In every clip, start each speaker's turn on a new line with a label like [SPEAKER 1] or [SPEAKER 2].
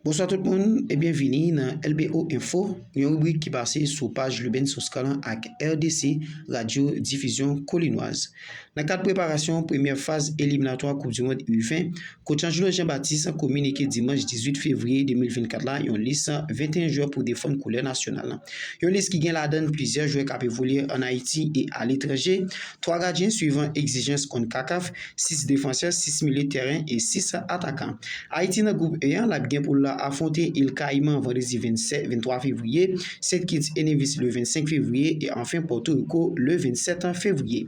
[SPEAKER 1] Bonswa tout moun e byen vini nan LBO Info, yon ribrik ki pase sou paj Luben Soskalan ak RDC Radyo Difizyon Kolinwaz. Nan kad preparasyon premyè faz eliminatwa koup di mond U20, Coach Angelo Jean Baptiste kominike dimanch 18 fevriye 2024 la yon lis 21 jwè pou defann koulè nasyonal la. Yon lis ki gen ladann plizyè jwè kap evolye an Ayiti e aletranje, 3 gadyen swivan egzijans konkakaf, 6 defansè, 6 milye tèren e 6 atakan. Ayiti nan gwoup E an, l ap gen pou l afwonte Il Kayiman vandredi 23 fevriye, Sent Kits e Nevis le 25 fevriye e anfen Pòtoriko le 27 fevriye.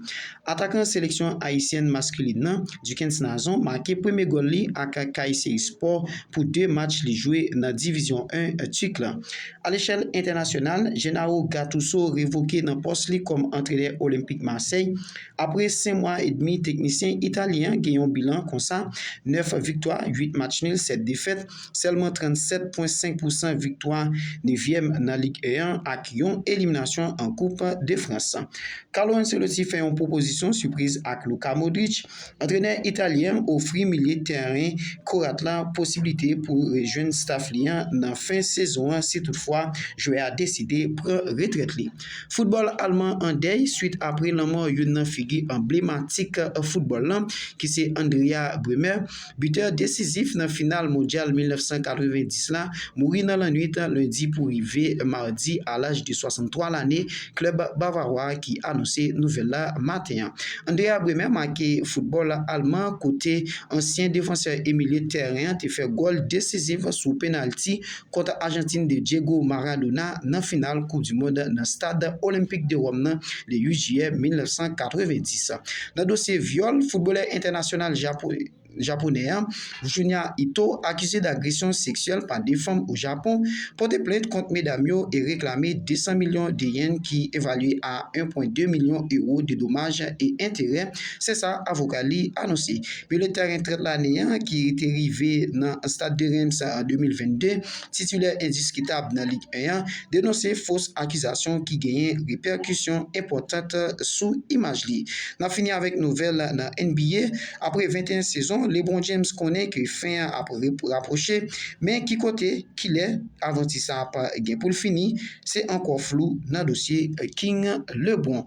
[SPEAKER 1] Atakan seleksyon ayisyèn maskilin nan, Dukens Nazon make premye gòl li ak Kayseri Spor pou 2 match li jwe nan Divizyon 1 Tik la. Alechèl entènasyonal, Gennaro Gattuso revoke nan pòs li kòm antrenè Olympique Marseille, Apre 5 mwa edmi teknisyen italyen an gen yon bilan konsa, 9 viktwa, 8 match nil, 7 defèt, sèlman 37 pwen 5 pousan viktwa, nevyèm nan Lig 1 an ak yon eliminasyon an koup de Frans. Carlo Ancelotti fè yon pwopozisyon sipriz ak Luka Modric, antrenè italyen an ofri milye tèren Kroat la posiblite pou rejwenn staf li an nan fen sezon an si toutfwa jwè a deside pran retrèt li. Foutbòl alman an dèy swit apre lanmò youn nan figi anblematik foutbòl lan ki se Andrea Bremer, bitè desizif nan final Mondyal 1990 la, mouri nan lannwit lendi pou rive madi a laj de 63 lane klèb Bavawa ki anonse nouvèl la maten an. Andrea Bremer make foutbòl alman kote ansyen defansè e milye tèren an te fè gòl desizif sou penalti kont Ajantin de Diego Maradona nan final koup du mond nan stad Olenpik de Wòm nan le 8 jiyè 1990. Nan dosye vyòl, foutbolè entènasyonal Japonè an, Junya Ito, akize dagresyon seksyèl pa 2 fanm o Japon, pote plent kont medam yo e reklame 200 milyon de yen ki evalye a 1.2 milyon ewo de domaj e enterè, se sa avoka li anonse. Pele ta gen 30 lane an ki te rive nan Stade de Reims an 2022, titulè endiskitab nan Ligue 1 an, denonse fos akizasyon ki genyen repèkisyon enpòtant sou imaj li. N ap fini avèk nouvèl nan NBA, apre 21 sezon, LeBron James konnen ke fen an ap rapwoche, men ki kote, kilè avanti sa ap gen pou l fini, se ankò flou nan dosye King LeBron.